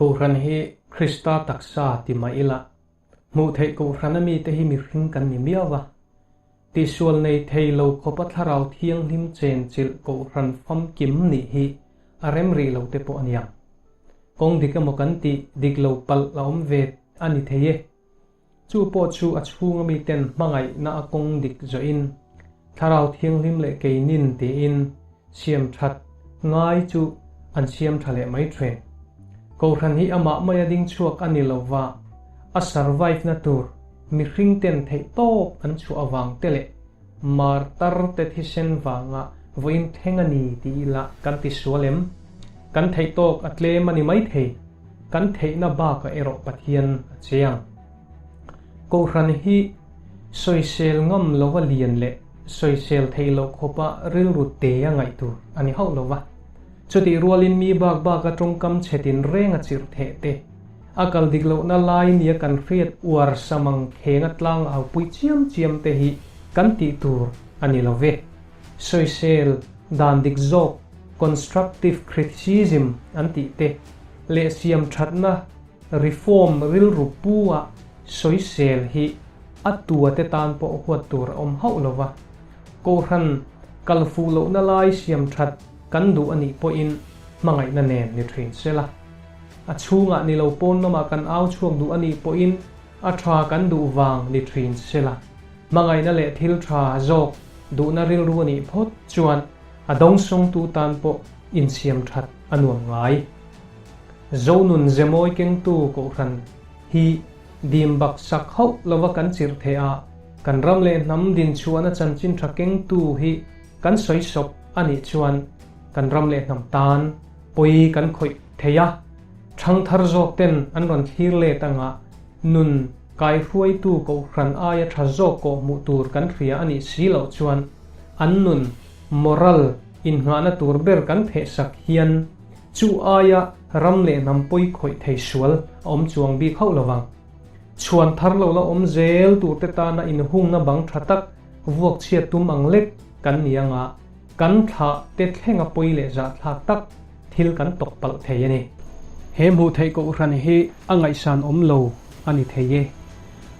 Kohhran hi Krista taksa ti mah ila, hmuh theih kohhran ami te hi mihring kan ni miau va. Tihsual nei thei lo khawpa thlarau thianghlim chenchilh kohhran famkim nih hi a rem rih lo te pawh a ni ang. Kawng dik emaw kan tih dik lo palh a awm ve a ni thei e. Chu pawh chu a chhunga miten hmangaihna a kawng dik zawhin Thlarau Thianghlim leh keinin tiin siam that ngai chu an siam tha leh mai thin. Kohhran hi amah mai a ding chhuak a ni lova, a survive-na tur mihringten theihtawp an chhuah avang te leh Martar te thisen vangah vawiin thleng a ni tih ila kan ti sual em? Kan theih tawk a tlem a ni maithei. Kan theihna bakah erawh Pathian a chiang. Kohhran hi sawisel ngam lova lian leh sawisel theih loh khawpa rilru te a ngaih tur a ni hauh lova. Chutih rualin mi bak baka tawngkam chhetin reng a chirh theh te, A kal dik lohna lai nia kan hriat uar samang khenga tlang a haupui chiam chiam te hi kan tih tur a ni lo ve. Soisel, dan dik zawk, constructive criticism an tih te, leh siamthatna, reform, rilru pu a soisel hi a tua te tan pawh huat tur a awm hauh lo va. Kohhran kal fuh lohna lai siamthat kan duh a nih pawhin hmangaihna nen ni thin sela. a chhungah ni lo pawn lamah kan au chhuak duh a nih pawhin a tha kan duh vang ni thin se la, hmangaihna leh thil tha zawk duhna rilru a nih phawt chuan a dawng sawngtu tan pawh insiam that a nuam ngai. Zonun zemawi kengtu Kohhran hi dim baksak hauh lova kan chirh theih a, kan ram leh hnam dinchhuahna chanchin tha kengtu hi kan sawi sawp a nih chuan kan ram leh hnam tan pawi kan khawih thei a, chhang thar zawk ten an rawn thlir let angah nun kai hruaitu kohhran aia tha zawk kawh hmuh tur kan hria a nih si loh chuan an nun moral innghahna tur ber kan pheh sak hian chu aia ram leh hnam pawi khawih thei sual a awm chuang bik hauh lovang. Chhuan thar lo la awm zel tur te tana inhungna bang tha tak vuakchhiat tum ang lek kan ni anga kan thlah te thlenga pawi leh zahthlak tak Thil kan tawk palh thei a ni. He hmuh theih kohhran hi a ngaihsan awm lo a ni thei e.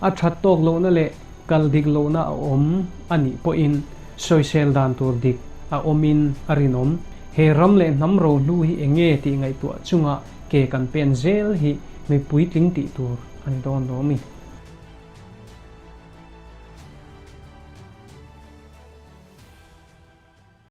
A that tawk lohna leh kal dik lohna a awm a nih pawhin sawisel dan tur dik a awmin a rinawm. He ram leh hnam ro hnu hi eng nge tih ngaihtuah chunga ke kan pen zel hi mi puitling tih tur a ni dawn lo mi.